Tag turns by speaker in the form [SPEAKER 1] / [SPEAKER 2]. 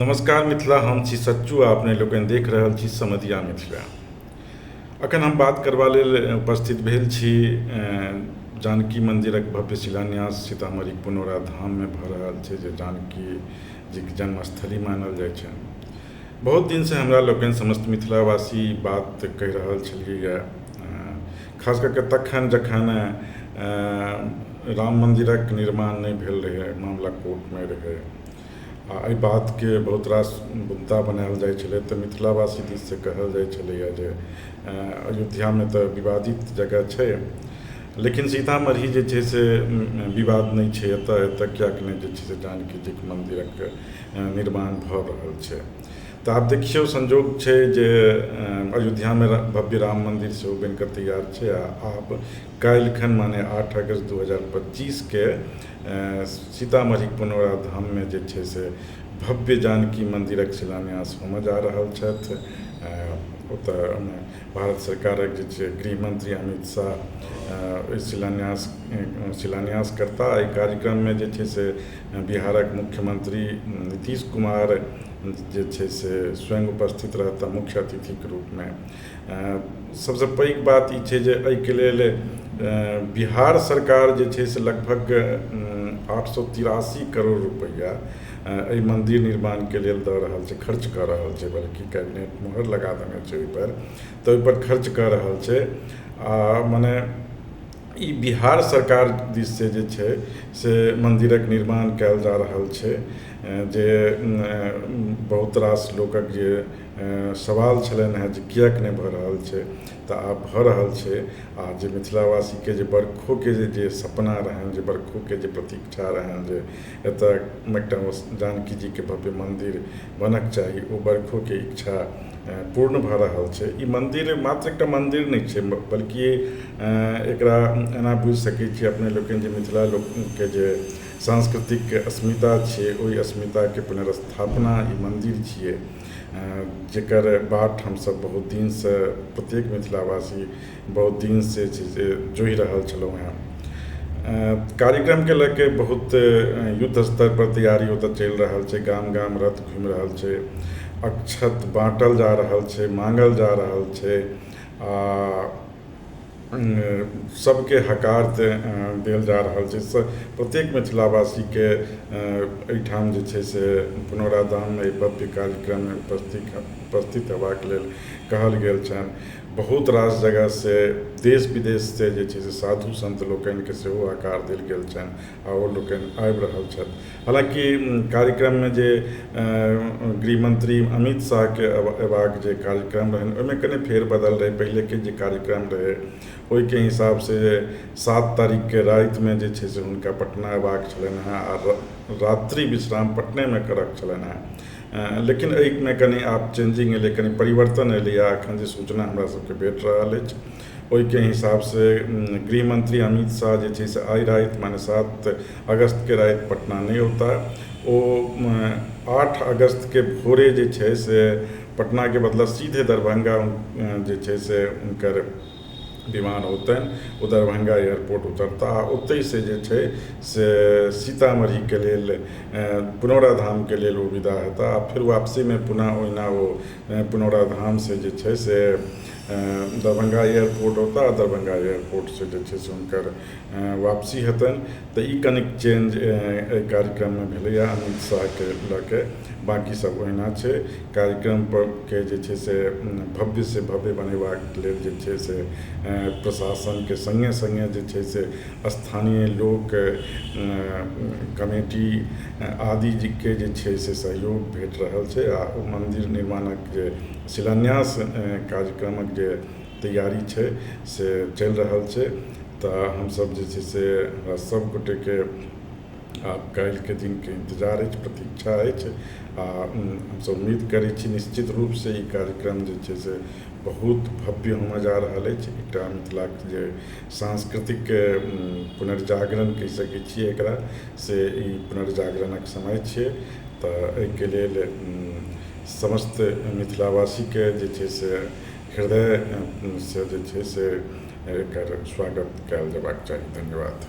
[SPEAKER 1] नमस्कार मिथिला हम छी सच्चू आ अपने लोकनि देख रहल छी समदिया मिथिला अखन हम बात करबा लेल उपस्थित भेल छी जानकी मन्दिरक भव्य शिलान्यास सीतामढ़ी पुनौरा धाममे भऽ रहल छै जे जानकी जीके जन्मस्थली मानल जाइ छै बहुत दिनसँ हमरा लोकनि समस्त मिथिलावासी बात कहि रहल छलियै खास कऽ कऽ तखन जखन राम मन्दिरक निर्माण नहि भेल रहै मामिला कोर्टमे रहै आ एहि बातके बहुत रास मुद्दा बनायल जाइ छलै तऽ मिथिला वासी दिस से कहल जाइ छलैया जे अयोध्यामे तऽ विवादित जगह छै लेकिन सीतामढ़ी जे छै से विवाद नहि छै एतऽ एतऽ किएक नहि जे छै से जानकी जीके मन्दिरक निर्माण भऽ रहल छै तऽ आब देखियौ संजोग छै जे अयोध्यामे भव्य राम मन्दिर सेहो बनि कऽ तैयार छै आ आब काल्हिखन माने आठ अगस्त दू हजार पच्चीस के सीतामढ़ी पुनौरा धाम मे जे छै से भव्य जानकी मन्दिरक शिलान्यास होमय जा रहल छथि ओतय भारत सरकारक जे छै गृहमन्त्री अमित शाह ओहि शिलान्यास शिलान्यास करता एहि कार्यक्रम मे जे छै से बिहारक मुख्यमन्त्री नीतीश कुमार जे छै से स्वयं उपस्थित रहता मुख्य अतिथि के रूप मे सबसँ पैघ बात ई छै जे एहिके लेल बिहार सरकार जे छै से लगभग आठ सए तिरासी करोड़ रुपैआ एहि मन्दिर निर्माणके लेल दऽ रहल छै खर्च कऽ रहल छै बल्कि कैबिनेट मोहर लगा देने छै ओहिपर तऽ ओहिपर खर्च कऽ रहल छै आ मने ई बिहार सरकार दिस से जे छै से मन्दिरक निर्माण कयल जा रहल छै जे बहुत रास लोकक जे सवाल छलनि हँ जे किएक नहि भऽ रहल छै तऽ आब भऽ रहल छै आओर जे मिथिलावासीके जे बरखोके जे सपना रहनि जे बरखोके जे प्रतीक्षा रहनि जे एतऽ एकटा जानकी जीके भव्य मन्दिर बनऽके चाही ओ बरखोके इच्छा पूर्ण भऽ रहल छै ई मन्दिर मात्र एकटा मन्दिर नहि छै बल्कि एकरा एना बुझि सकै छिए अपने लोकनि जे मिथिला लोकनिके जे साँस्कृतिक अस्मिता छिए ओहि अस्मिताके पुनर्स्थापना ई मन्दिर छिए जकर बाट हमसब बहुत दिन सऽ प्रत्येक मिथिलावासी बहुत दिन सऽ जे छै से जोहि रहल छलहुॅं हँ कार्यक्रम के लऽ के बहुत युद्ध स्तर पर तैयारी ओतऽ चलि रहल छै गाम गाम रथ घुमि रहल छै अक्षत बाँटल जा रहल छै माँगल जा रहल छै आ सबके हकार तऽ देल जा रहल छै से प्रत्येक मिथिलावासीके एहिठाम जे छै से पुनौराधाममे एहि भव्य कार्यक्रममे उपस्थित उपस्थित हेबाके लेल कहल गेल छनि बहुत रास जगहसँ देश विदेशसँ जे छै से साधु सन्त लोकनिके सेहो हकार देल गेल छनि आओर लोकनि आबि रहल छथि हालाँकि कार्यक्रममे जे गृह मंत्री अमित शाहके अयबाक जे कार्यक्रम रहनि ओहिमे कनी फेर बदल रहै पहिलेके जे कार्यक्रम रहै ओहिके हिसाब से सात तारीखके रातिमे जे छै से हुनका पटना अयबाक छलनि हँ आ रात्रि विश्राम पटनेमे करऽ के छलनि हँ लेकिन एहिमे कनी आब चेंजिंग एलै कनी परिवर्तन एलैया अखन जे सूचना हमरा सबके भेट रहल अछि ओहिके हिसाबसँ गृहमन्त्री अमित शाह जे छै से आइ राति माने सात अगस्तके राति पटना नहि औता ओ आठ अगस्तके भोरे जे छै से पटनाके बदला सीधे दरभंगा जे छै से हुनकर विमान औतनि ओ दरभंगा एयरपोर्ट उतरता आ ओतहिसँ जे छै से सीतामढ़ीके लेल पुनौराधामके लेल ओ विदा हेता आ फेर वापसीमे पुनः ओहिना ओ पुनौरा धाम से जे छै से दरभंगा एयरपोर्ट औता आ दरभंगा एयरपोर्ट से जे छै से हुनकर वापसी हेतनि तऽ ई कनिक चेंज एहि कार्यक्रम मे भेलैया अमित शाह के लऽ के बाकी सब ओहिना छै कार्यक्रम पर के जे छै से भव्य से भव्य बनेबाक लेल जे छै से प्रशासन के संगे संगे जे छै से स्थानीय लोक कमिटी आदि के जे छै से सहयोग भेट रहल छै आ ओ मन्दिर निर्माणक जे शिलान्यास कार्यक्रमक जे तैयारी छै से चलि रहल छै तऽ हमसब जे छै से हमरा सब गोटे के आब काल्हि के दिन के इन्तजार अछि प्रतीक्षा अछि आ हमसब उम्मीद करै छी निश्चित रूप से ई कार्यक्रम जे छै से बहुत भव्य होमय जा रहल अछि एकटा मिथिला के जे सांस्कृतिक पुनर्जागरण कहि सकै छियै एकरा से ई पुनर्जागरणक समय छियै तऽ एहिके लेल समस्त मिथिलावासीके जे छै से हृदयसँ जे छै से एकर स्वागत कयल जेबाक चाही धन्यवाद